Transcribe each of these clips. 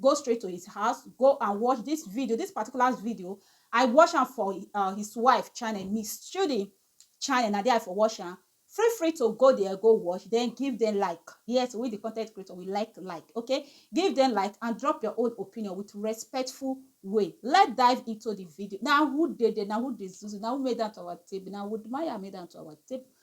go straight to his house go and watch this video this particular video i watch am for uh, his wife channel miss judy channel na there i for watch am feel free to go there go watch then give them like yes we the content creator we like like okay give them like and drop your own opinion with respectful way let's dive into the video now who did it now who did this now who made that our tip now would maya made that our tip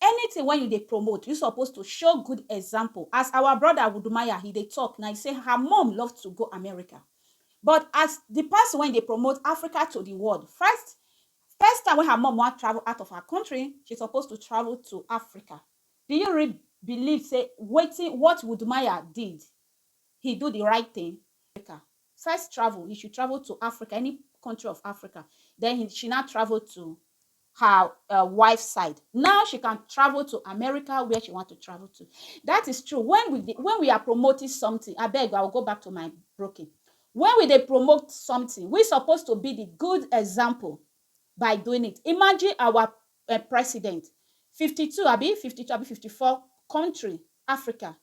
Anything wen you dey promote you suppose to show good example as our brother Wudumaya he dey talk na he say her mom love to go America but as the person wen dey promote Africa to the world first first time wen her mom wan travel out of her country she suppose to travel to Africa do you real believe say wetin what Wudumaya did he do the right thing Africa first travel he should travel to Africa any country of Africa then he she now travel to her um wife side. Now she can travel to America where she want to travel to. That is true. When we dey, when we are promoting something, I beg, I will go back to my broken. When we dey promote something, we supposed to be the good example by doing it. Imagine our uh, president, 52, abi 52, abi 54 country, Africa.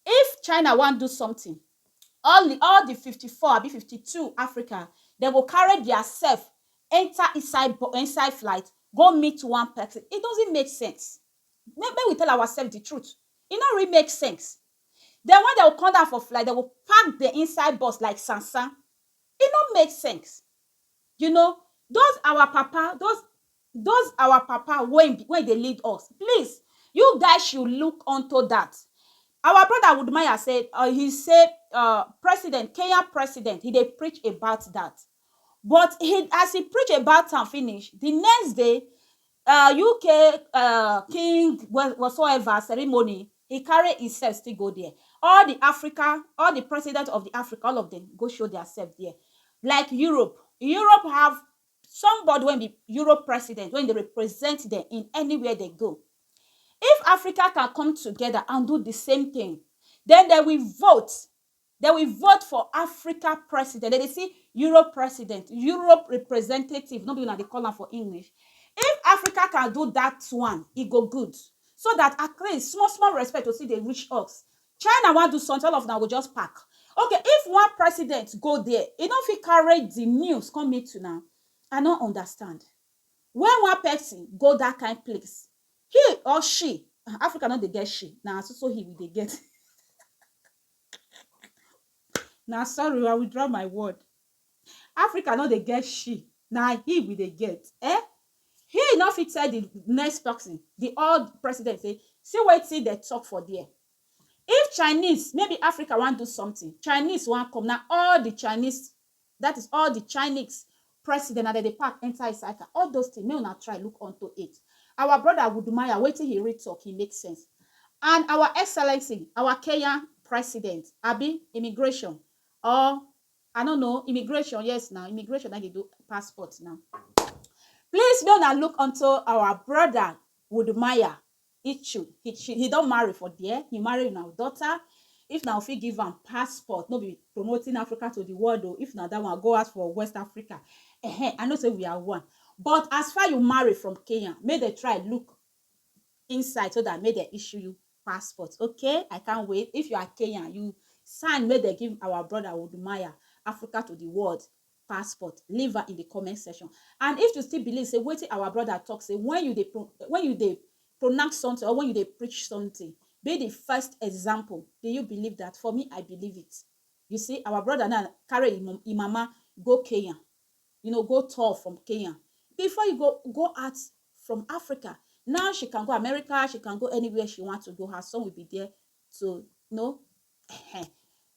If China want do something, all di all di fifty four abi fifty two African dem go carry dia sef enta inside bu inside flight go meet one pesin it doesn't make sense make make we tell our sef di truth e no really make sense den wen dem go come down for flight dem go pack dem inside bus like sansan e no make sense you know those our papa those Those our papa wey wey dey lead us please you guys should look unto that our brother Wudmaya say uh he say uh president Kenyan president he dey preach about that but he as he preach about am finish the next day uh UK uh king whatsoever ceremony he carry himself still go there all the Africa all the president of the Africa all of them go show their self there like Europe Europe have somebody wey be Europe president wey dey represent dem in anywhere dey go if Africa can come together and do the same thing then they will vote they will vote for Africa president they dey see Europe president Europe representative no be una dey call am for English if Africa can do that one e go good so that at least small small respect go still dey reach us China wan do something all of una go just pack okay if one president go there e no fit carry the news come meet una I no understand when one person go that kind place he or she um Africa no dey get she na so so he we dey get na sorry oo I withdraw my word. Africa no dey get she na he we dey get um he no fit tell the next person the old president say see wetin dem talk for there if Chinese maybe Africa wan do something Chinese wan come na all the Chinese that is all the Chinese president na dem dey pack enter inside car all those things make una try look unto it our brother Wudmaya wetin he really talk he make sense and our excellency our Kenyan president abi immigration or I no know immigration yes na immigration na dey do passport na please make una look unto our brother Woodmaya Ichu he, he don marry for there he marry una daughter if na fit give am passport no be promoting Africa to the world o if na that one go ask for West Africa uh-huh. I know say we are one but as far you marry from Kenya make dem try look inside so that make dem issue you passport okay I can't wait if you are Kenyan you sign make dem give our brother Odumaya Africa to the world passport leave am in the comment section and if you still believe say wetin our brother talk say when you dey when you dey pronounce something or when you dey preach something be the first example do you believe that for me I believe it you see our brother now carry im mama go Kenya you know go tour from Kenya before you go go out from Africa now she can go America she can go anywhere she want to go her son will be there to you know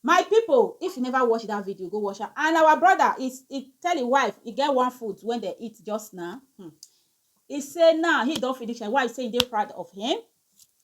my people if you never watch that video go watch am and our brother he he tell him wife he get one food when they eat just now hmm. he say now he don't finish him wife say he dey proud of him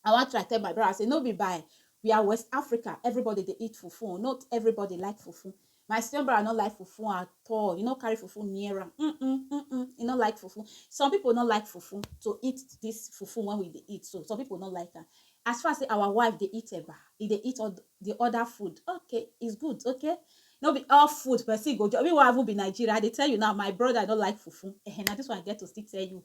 I wan try tell my brother say no be by we are West Africa, everybody dey eat fufu, not everybody like fufu. My senior brother no like fufu at all. You no carry fufu near am. Mm -mm, mm -mm. You no like fufu. Some people no like fufu to eat this fufu when we dey eat. So some people no like am. As far as say our wife dey eat eba, e dey eat all the other food. Okay, it's good, okay? No be all food person go just. Me wey I even be Nigeria, I dey tell you now, my brother no like fufu. Eh, na this one I get to still tell you.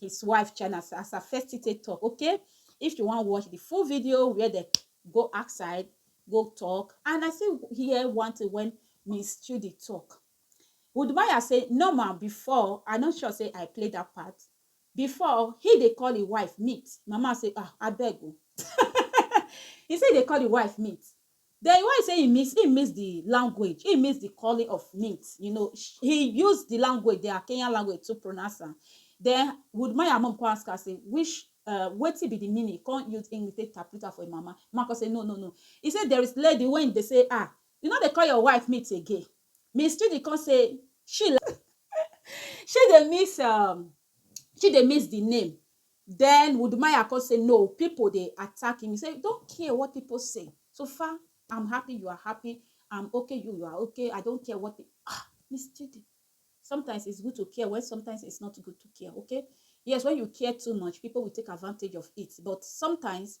his wife china as as her first thing take talk okay if you wan watch the full video where dem go outside go talk and i still hear one thing when miss chidi talk udumaya say normal before i no sure say i play that part before he dey call him wife meet mama say ah abeg o he say he dey call him wife meet Den why you say im miss, im miss di language, im miss di calling of mint, you know, he use di language, dia Kenyan language to pronounce am. Den Woodmaya mum kon ask am say which um wetin be di meaning, he kon use English take interpret am for im mama, di mama kon say no no no, he say there is lady wey dey say ah, you no dey call your wife mint again, Miss Chidi kon say she she dey miss um, she dey miss di name, Den Wudmaya kon sey, No, pipol dey attack him, he sey, Don't care what pipol sey, so far I'm happy you are happy, I'm ok you you are ok, I don't care what pipol Ah! Miss Chidi, sometimes it's good to care when sometimes it's not good to care, ok? Yes, when you care too much, pipol will take advantage of it, but sometimes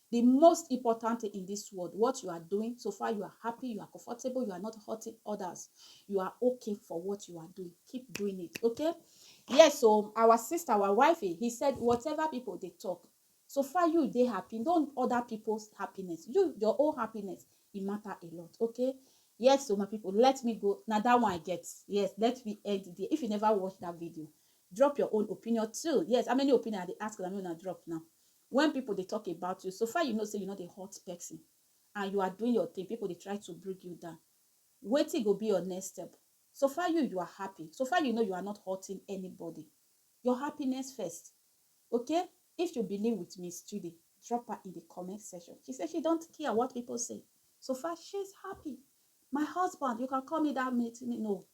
Di most important tin in dis world, what you are doing, so far you are happy, you are comfortable, you are not hurting odas, you are okay for what you are doing, keep doing it okay. Yes o, our sista, our wifey, he said whatever pipo dey tok, so far you dey happy, you don oda pipo's happiness, you your own happiness e mata a lot okay. Yes o my pipo, let me go, na dat one I get, yes let me end dia, if you neva watch dat video drop your own opinion too, yes how many opinion I dey ask una make una drop now, When people dey talk about you, so far you know say you no dey hurt person and you are doing your thing, people dey try to bring you down. Wetin go be your next step? So far you, you are happy. So far you know you are not hurting anybody. Your happiness first, okay? If you believe with Miss Judy, drop her in the comment section. She said she don't care what people say. So far she's happy. My husband, you can call me that meeting. No,